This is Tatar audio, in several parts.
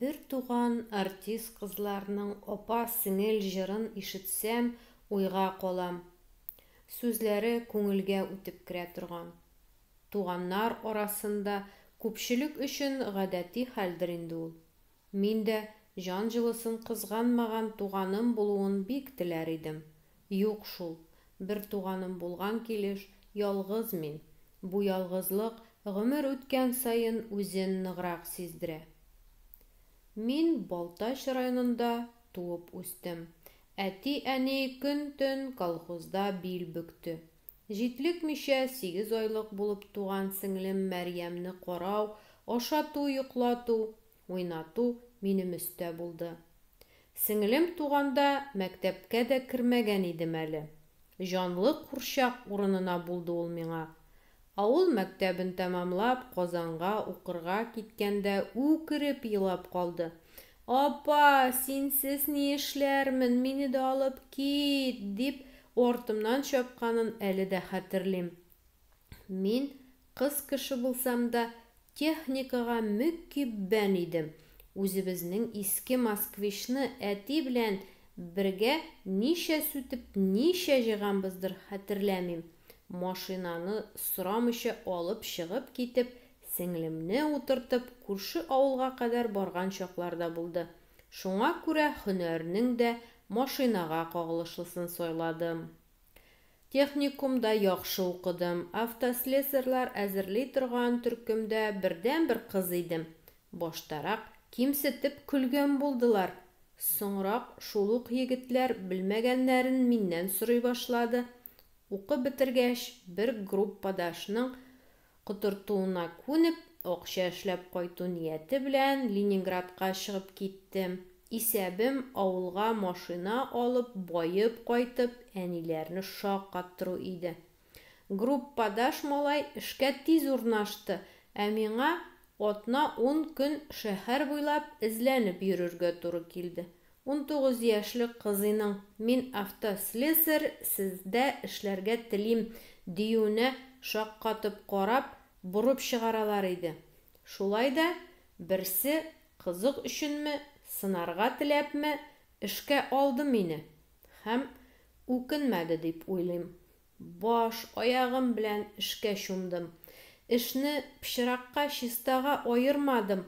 Бертуган артист кызларның апа-сеңел җырын ишетсәм, уйга калам. Сүзләре күңелгә үтеп керә торган. Туганнар арасында күпчелек өчен гадәти хәлдер инде ул. Мин дә җан җылысын кызганмаган туганым булуын бик теләр идем. Юк шул, бер туганым булган килеш, ялгыз мин. Бу ялгызлык гомер үткән саен үзен ныграк сиздерә. Мин Балтач районында туып үстем. Әти-әни көн-төн колхозда бил бөкте. Җитлекмичә, сигез айлык булып туган сеңлем Мәрьямне карау, ашату, йоклату, уйнату минем өстә булды. Сеңлем туганда мәктәпкә дә кермәгән идем әле. Җанлы курчак урынына булды ул миңа. Авыл мәктәбен тәмамлап, Казанга укырга киткәндә үкереп елап калды. Апа, синсез ни эшләрмен, мине дә алып кит! дип, артымнан чапканын әле дә хәтерлим. Мин, кыз кеше булсам да, техникага мөкиббән идем. Үзебезнең иске Москвичны әти белән бергә ничә сүтеп, ничә җыйганбыздыр, хәтерләмим. Машинаны сорамыйча алып чыгып китеп, Сеңлемне утыртып, күрше авылга кадәр барган чаклар да булды. Шуңа күрә һөнәрнең дә машинага кагылышлысын сайладым. Техникумда яхшы укыдым, автослесарьлар әзерли торган төркемдә бердәнбер кыз идем. Баштарак кимсетеп көлгән булдылар. Соңрак шул ук егетләр белмәгәннәрен миннән сорый башлады. Укып бетергәч, бер группадашның котыртуына күнеп, акча эшләп кайту нияте белән Ленинградка чыгып киттем. Исәбем, авылга машина алып, баеп кайтып, әниләрне шаккаттыру иде. Группадаш малай эшкә тиз урнашты, ә миңа атна-ун көн шәһәр буйлап эзләнеп йөрергә туры килде. Унтугыз яшьлек кызыйның, Мин автослесарь, сездә эшләргә телим, диюенә шаккатып карап, борып чыгаралар иде. Шулай да, берсе, кызык өченме, сынарга теләпме, эшкә алды мине. Һәм үкенмәде дип уйлыйм. Баш, аягым белән эшкә чумдым. Эшне пычракка, чистага аермадым,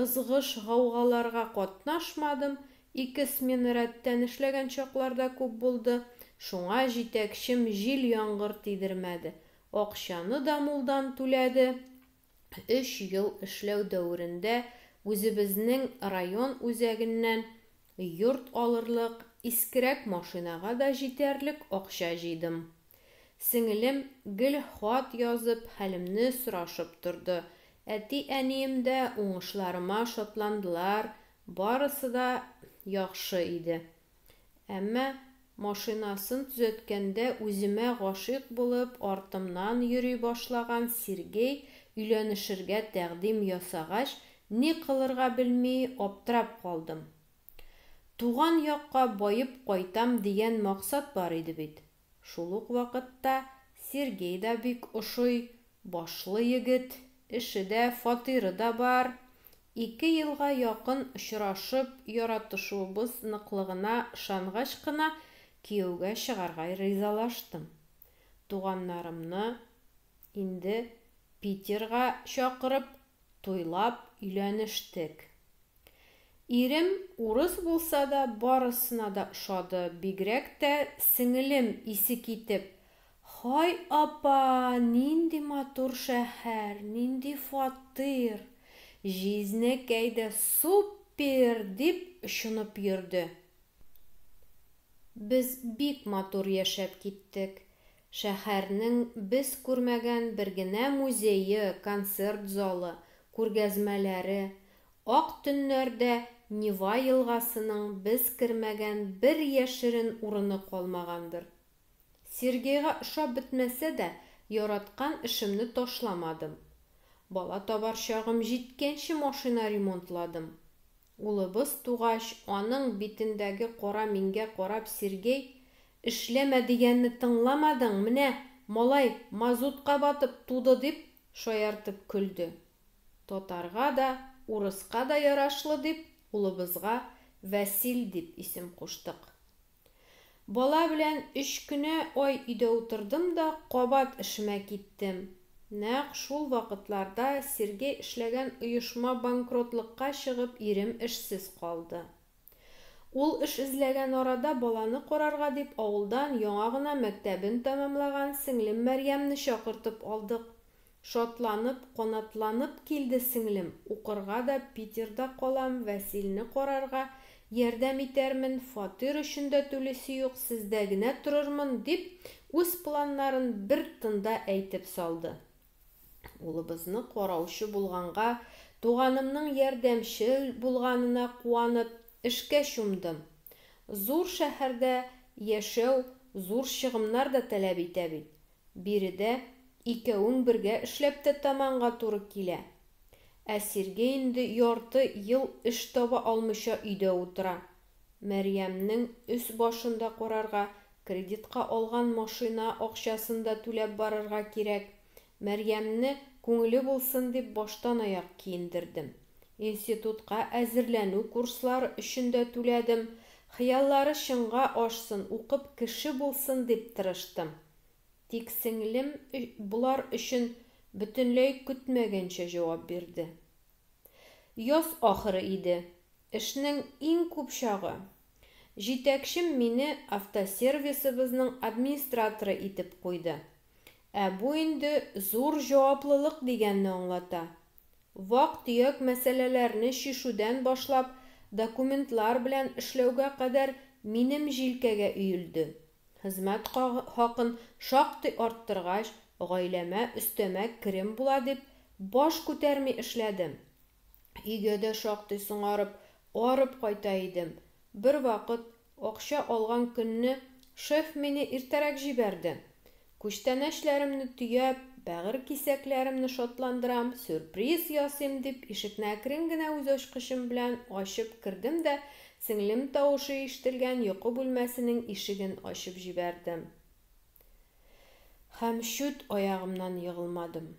ызгыш-гаугаларга катнашмадым, ике смена рәттән эшләгән чаклар да күп булды, шуңа җитәкчем җил-яңгыр тидермәде, акчаны да мулдан түләде. өч ел эшләү дәверендә үзебезнең район үзәгеннән йорт алырлык искерәк машинага да җитәрлек акча җыйдым. Сеңелем гел хат язып, хәлемне сорашып торды. Әти-әнием дә уңышларыма шатландылар, барысы да яхшы иде. Әмма машинасын төзәткәндә үземә гашыйк булып, артымнан йөри башлаган Сергей өйләнешергә тәкъдим ясагач, ни кылырга белми аптырап калдым. Туган якка баеп кайтам дигән максат бар иде бит. Шул ук вакытта Сергей да бик ошый, башлы егет, эше дә, фатиры да бар. Ике елга якын очрашып, яратышуыбыз ныклыгына ышангач кына кияүгә чыгарга ризалаштым. Туганнарымны инде Питерга чакырып, туйлап өйләнештек. Ирем урыс булса да, барысына да ошады, бигрәк тә сеңелем исе китеп, Һай апа, нинди матур шәһәр, нинди фатир! Җизнәкәй дә суппер! дип очынып йөрде. Без бик матур яшәп киттек. Шәһәрнең без күрмәгән бер генә музее, концерт залы, күргәзмәләре, ак төннәрдә Нева елгасының без кермәгән бер яшерен урыны калмагандыр. Сергейга ошап бетмәсә дә, яраткан эшемне ташламадым. Бала табар чагым җиткәнче машина ремонтладым. Улыбыз тугач, аның битендәге кара миңгә карап Сергей, Эшләмә дигәнне тыңламадың, менә, малай, мазутка батып туды, дип шаяртып көлде. Татарга да, урыска да ярашлы дип, улыбызга Вәсил дип исем куштык. Бала белән өч кенә ай өйдә утырдым да кабат эшемә киттем. Нәкъ шул вакытларда Сергей эшләгән оешма банкротлыкка чыгып, ирем эшсез калды. Ул эш эзләгән арада баланы карарга дип авылдан яңа гына мәктәбен тәмамлаган сеңлем Мәрьямне чакыртып алдык. Шатланып, канатланып килде сеңлем, укырга да Питерда калам, Вәсилне карарга ярдәм итәрмен, фатир өчен дә түлисе юк, сездә генә торырмын, дип үз планнарын бер тында әйтеп салды. Улыбызны караучы булганга, туганымның ярдәмчел булганына куанып, эшкә чумдым. Зур шәһәрдә яшәү зур чыгымнар да таләп итә бит. Биредә икәвең бергә эшләп тә тәманга туры килә. Ә Сергей инде ярты ел эш таба алмыйча өйдә утыра. Мәрьямнең өс-башын да карарга Кредитка алган машина акчасын да түләп барырга кирәк. Мәрьямне күңеле булсын дип баштанаяк киендердем. Институтка әзерләнү курслары өчен дә түләдем. Хыяллары чынга ашсын, укып кеше булсын дип тырыштым. Тик сеңлем болар өчен бөтенләй көтмәгәнчә җавап бирде. Яз ахыры иде. Эшнең иң күп чагы. Җитәкчем мине автосервисыбызның администраторы итеп куйды. Ә бу инде зур җаваплылык дигәнне аңлата. Вак-төяк мәсьәләләрне чишүдән башлап документлар белән эшләүгә кадәр минем җилкәгә өелде. Хезмәт хакын шактый арттыргач, гаиләмә өстәмә керем була дип, баш күтәрми эшләдем. Өйгә дә шактый соңарып, арып кайта идем. Бервакыт, акча алган көнне, шеф мине иртәрәк җибәрде. Күчтәнәчләремне төяп, бәгырь кисәкләремне шатландырам, сюрприз ясыйм, дип, ишекне әкрен генә үз ачкычым белән ачып кердем дә сеңлем тавышы ишетелгән йокы бүлмәсенең ишеген ачып җибәрдем. Һәм чүт аягымнан егылмадым.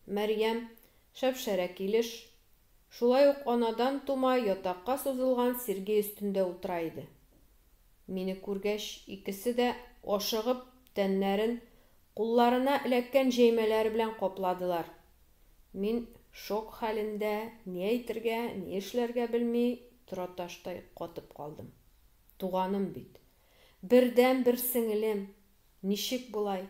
Мәрьям, шәп-шәрә килеш, шулай ук анадан тума ятакка сузылган сирги өстендә утыра иде. Мине күргәч, икесе дә, ашыгып, тәннәрен кулларына эләккән җәймәләре белән капладылар. Мин шок хәлендә, ни әйтергә, ни эшләргә белми, тораташтай катып калдым. Туганым бит. Бердәнбер сеңелем. Ничек болай?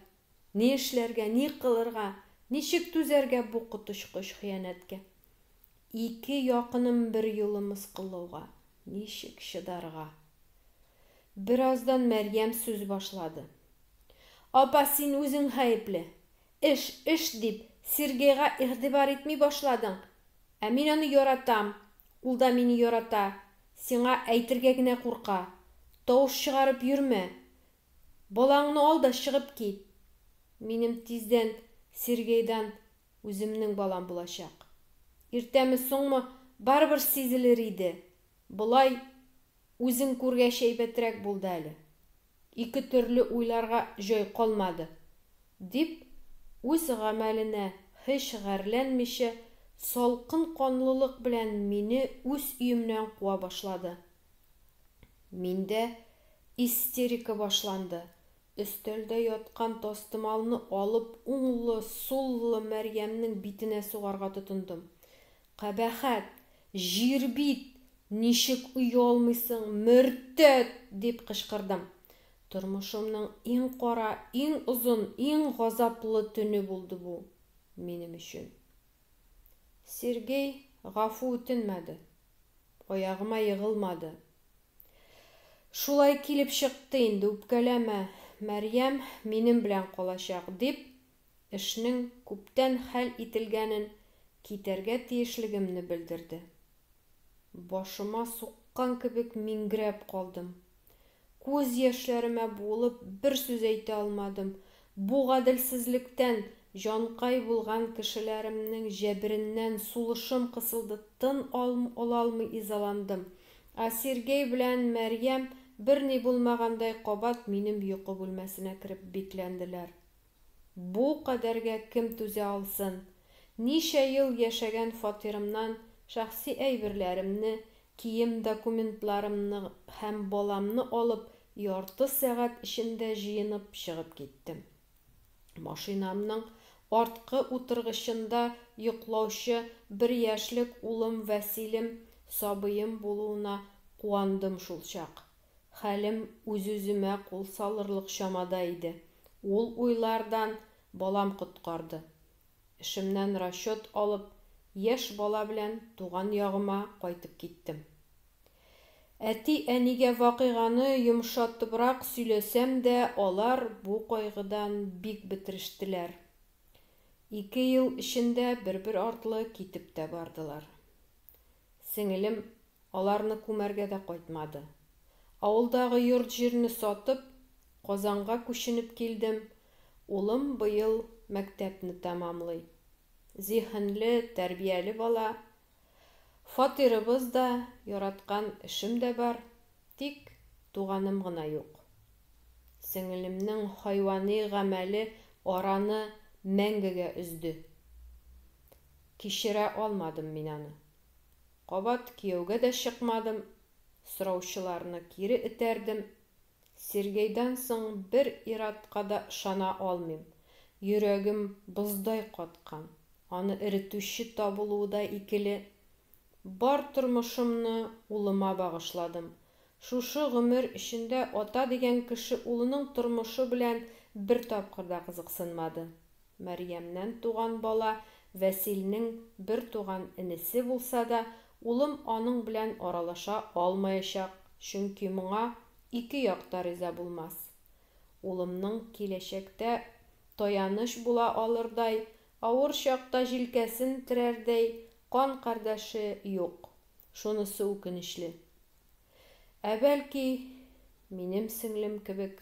Ни эшләргә, ни кылырга, ничек түзәргә бу коточкыч хыянәткә? Ике якыным берьюлы мыскыллауга ничек чыдарга? Бераздан Мәрьям сүз башлады. Апа, син үзең гаепле. Эш, эш дип, Сергейга игътибар итми башладың. Ә мин аны яратам, ул да мине ярата, сиңа әйтергә генә курка. Тавыш чыгарып йөрмә. Балаңны ал да чыгып кит! Минем тиздән Сергейдан үземнең балам булачак. Иртәме-соңмы, барыбер сизелер иде. Болай үзең күргәч әйбәтрәк булды әле. Ике төрле уйларга җай калмады, дип, үз гамәленә һич гарьләнмичә, салкын канлылык белән мине үз өемнән куа башлады. Миндә истерика башланды, өстәлдә яткан тастымалны алып уңлы, суллы Мәрьямнең битенә сугарга тотындым. Кабәхәт! Җир бит! Ничек оялмыйсың, мөртәт! дип кычкырдым. Тормышымның иң кара, иң озын, иң газаплы төне булды бу минем өчен. Сергей гафу үтенмәде. Аягыма егылмады. Шулай килеп чыкты инде, үпкәләмә. Мәрьям минем белән калачак, дип, эшнең күптән хәл ителгәнен, китәргә тиешлегемне белдерде. Башыма суккан кебек миңгерәп калдым. Күз яшьләремә буылып, бер сүз әйтә алмадым. Бу гаделсезлектән, җанкай булган кешеләремнең җәбереннән сулышым кысылды, тын алалмый изаландым. Ә Сергей белән Мәрьям, берни булмагандай, кабат минем йокы бүлмәсенә кереп бикләнделәр. Бу кадәргә кем түзә алсын? Ничә ел яшәгән фатирымнан шәхси әйберләремне, Кием документларымны һәм баламны алып, ярты сәгать эчендә җыенып чыгып киттем. Машинамның арткы утыргычында йоклаучы бер яшьлек улым Вәсилем сабыем булуына куандым шулчак. Хәлем үз-үземә кул салырлык чамада иде. Ул уйлардан балам коткарды. Эшемнән расчет алып, яшь бала белән туган ягыма кайтып киттем. Әти-әнигә вакыйганы йомшатыбрак сөйләсәм дә, алар бу кайгыдан бик бетерештеләр. Ике ел эчендә бер-бер артлы китеп тә бардылар. Сеңелем аларны күмәргә дә кайтмады. Авылдагы йорт-җирне сатып, Казанга күченеп килдем, Улым быел мәктәпне тәмамлый. Зиһенле, тәрбияле бала. Фатирыбыз да, яраткан эшем дә бар, тик туганым гына юк. Сеңелемнең хайвани гамәле араны мәңгегә өзде. Кичерә алмадым мин аны. Кабат кияүгә дә чыкмадым, сораучыларны кире этәрдем. Сергейдан соң бер ир-атка да ышана алмыйм. Йөрәгем боздай каткан. Аны эретүче табылуы да икеле. Бар тормышымны улыма багышладым. Шушы гомер эчендә ата дигән кеше улының тормышы белән бер тапкыр да кызыксынмады. Мәрьямнән туган бала Вәсилнең бер туган энесе булса да, улым аның белән аралаша алмаячак, чөнки моңа ике як та риза булмас. Улымның киләчәктә таяныч була алырдай, авыр чакта җилкәсен терәрдәй кан кардәше юк, шунысы үкенечле. Ә бәлки, минем сеңлем кебек